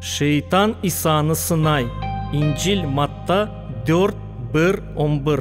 Şeytan İsanı sınay. İncil, Matta dört, bir, on bir.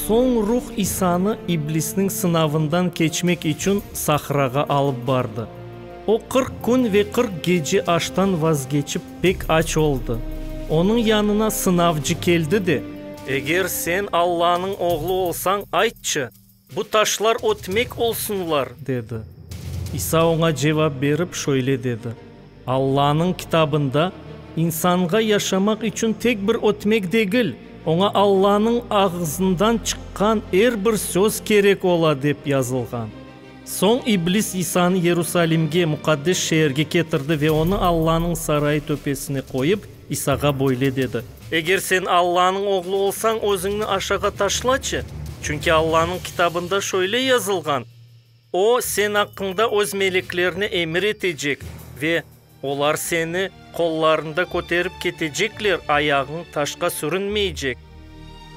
Soñ Ruh İsanı iblisniñ sınavından keçmek içün sahrağa alıp bardı. O, qırq kün ve qırq gece aştan vazgeçip, Pek aç oldı. Onıñ yanına sınavcı keldi de. Eger sen Allanıñ oğlu olsañ, aytçı, bu taşlar ötmek olsunlar, dedi. İsa oña cevap berip, şöyle dedi, Allanıñ kitabında, İnsanğa yaşamaq içün tek bir ötmek degil, oña Allanıñ ağızından çıqqan er bir söz kerek ola, dep yazılğan. Soñ iblis İsanı Yerusalimge, muqaddes şeerge ketirdi ve onı Allanıñ sarayı töpesine qoyıp, İsağa böyle dedi. Eger sen Allanıñ Oğlu olsañ, özüñni aşağa taşlaçı, çünki Allanıñ Kitabında şöyle yazılğan, O, sen aqqıñda öz meleklerine emir etecek ve Olar seni qollarında köterip ketecekler, ayağıñ taşqa sürünmeycek.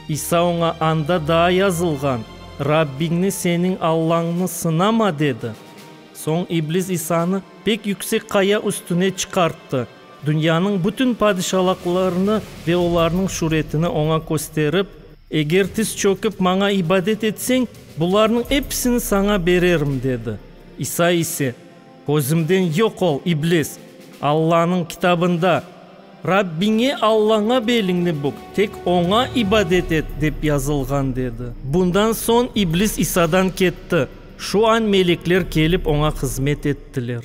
İsa oña, Anda daa yazılğan, Rabbiñni, seniñ Allañnı, sınama, dedi. Soñ iblis İsanı pek yüksek qaya üstüne çıqarttı, dünyanıñ bütün padişalaqlarını ve olarnıñ şüretini oña kösterip, Eger tiz çökip maña ibadet etseñ, bularnıñ episini saña bererim, dedi. İsa ise. Közümden yoq ol, iblis! Allanıñ Kitabında, Rabbiñe Allaña beliñni bük, tek Oña ibadet et, dep yazılğan, dedi. Bundan soñ iblis İsadan ketti. Şu añ melekler kelip oña hızmet ettiler.